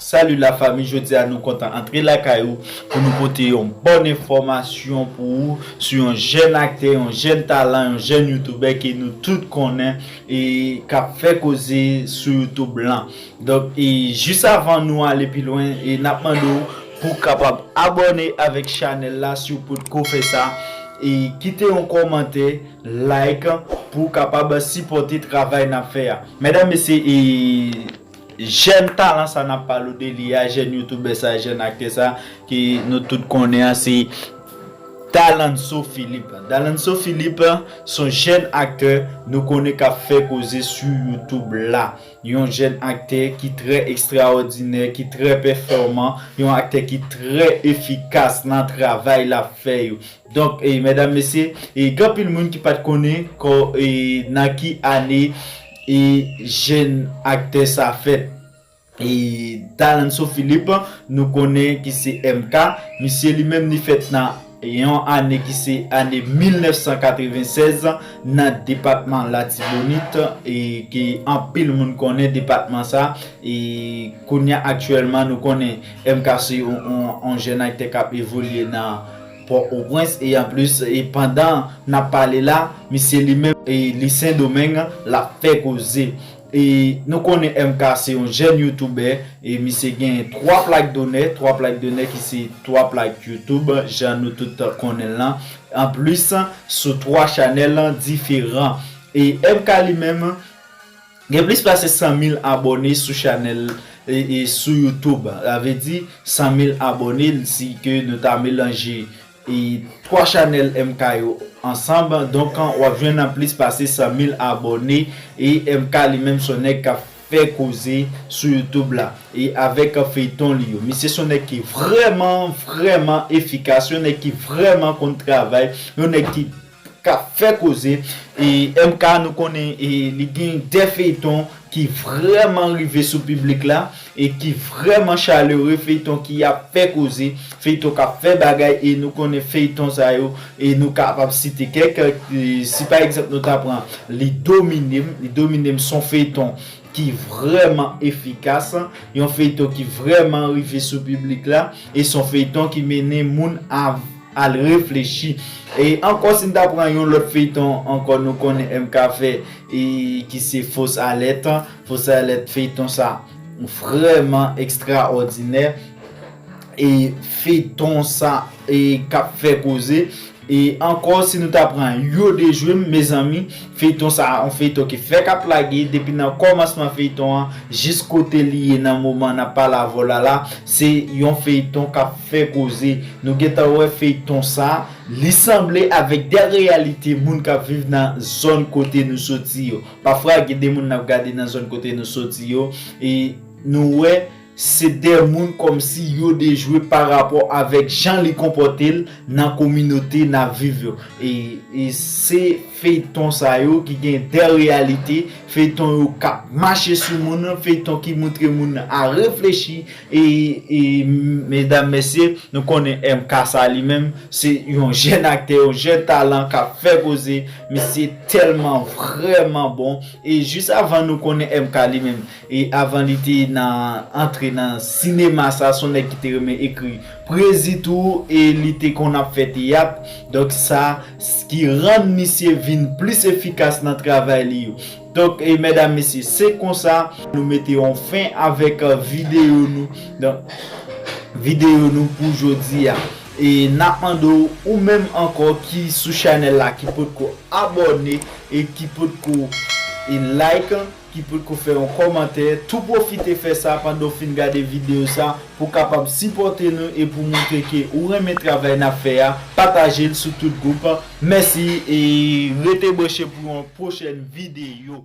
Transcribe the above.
Salut la fami jodi a nou kontan antre lakay ou pou nou pote yon bon enfòmasyon pou ou sou yon jèn aktè, yon jèn talan, yon jèn youtubè ke nou tout konnen e kap fè koze sou youtube lan. Donk e jis avan nou ale pi lwen e nap mande ou pou kapab abòne avèk chanèl la si ou potko fè sa e kite yon kòmantè Like pou kapab sipote travay nap fè a medam mesye e jèn talan sa nap palo de li a jèn youtubè sa jèn aktè sa ke nou tout konnen an se Dalanso Philippe Dalanso Philippe son jèn aktè nou konnen kap fè koze su youtube la yon jèn aktè ki trè ekstraòdinè ki trè pèfòman yon aktè ki trè efikas nan travay lap fè yo Donk medam mesye gen anpil moun ki pat konnen nan ki ane jèn aktè sa fèt Dalanso Philippe nou konnen ki se MK misye li menm li fèt nan yon ane ki se ane 1996 nan depatman latibonit ke anpil moun konnen depatman sa kounya aktyèlman nou konnen MK se yon jèn aktè kap evolye nan Pò o prens e anplis e pandan nap pale la misye li menm e li sendomeng lap fè koze e nou konnen MK se yon jèn youtubè e misye genyen 3 plak donè 3 plak donè ki se 3 plak youtube jan nou tout konnenl lan anplis sou 3 chanèl diferan e MK li menm Gen plis pase 100 mil abòne sou chanèl sou youtube sa vle di 100 mil abòne si ke nou ta melanje 3 chanèl MK yo ansanb donk wap jwenn nan plis pase 100 mil abòne e MK li menm son nèg kap fè koze sou youtube la e avèk feyton li yo misye son nèg ki vrèman vrèman efikas yon nèg ki vrèman konn travay yon nèg ki kap fè koze e MK nou konnen li gen de feyton ki vrèman rive sou piblik la e ki vrèman chalere feyton ki ap fè koze feyton kap fè bagay e nou konnen feyton sa yo e nou kapab site kèk si pa egzanp nou ta pran li dominem li dominem son feyton ki vrèman efikas yon feyton ki vrèman rive sou piblik la e son feyton ki mennen moun a. Al reflechi. E ankò si n ta pran yon lòt feyton ankò nou konnen MK fè e ki se fausse alerte, fausse alerte feyton sa vrèman ekstraòdinè e feyton sa e kap fè koze e ankò si nou ta pran yo dejwe m mezanmi. Feyton sa yon feyton ki fèk ap lage depi nan kòmansman feyton an jis kote li ye nan moman nap pale avèw la la se yon feyton kap fè koze nou gentan wè feyton sa li sanble avèk de reyalite moun kap viv nan zòn kote nou soti yo pafwa gen de moun nap gade nan zòn kote nou soti yo e nou wè Se de moun kòmsi yo dejwe pa rapò avèk jan li konpòte l nan kominote n ap viv yo. E se feyton sa yo ki gen de reyalite, feyton yo k ap mache sou moun, feyton ki montre moun a reflechi e medam mesye nou konnen MK sa li menm se yon jèn aktè, yon jèn talan k ap fè koze, misye tèlman vrèman bon e jis avan nou konnen MK li menm E avan li te nan antre nan sinema sa son nèg ki te renmen ekri pwezi tou e li te konn ap fè teyat donk sa ki rann misye vin plis efikas nan travay li yo donk mèdam mesye se konsa nou mete yon fen avèk videyo nou donk videyo nou pou jodi a e nap mande w ou menm ankò ki sou chanèl la ki potko abòne e ki potko like. ki potko fè yon kòmantè tou pwofite fè sa pandan w fin gade videyo sa pou w kapab sipòte nou e pou w montre ke ou renmen travay n ap fè a pataje l sou tout gwoup mèsi e rete branche pou yon pwochèn videyo.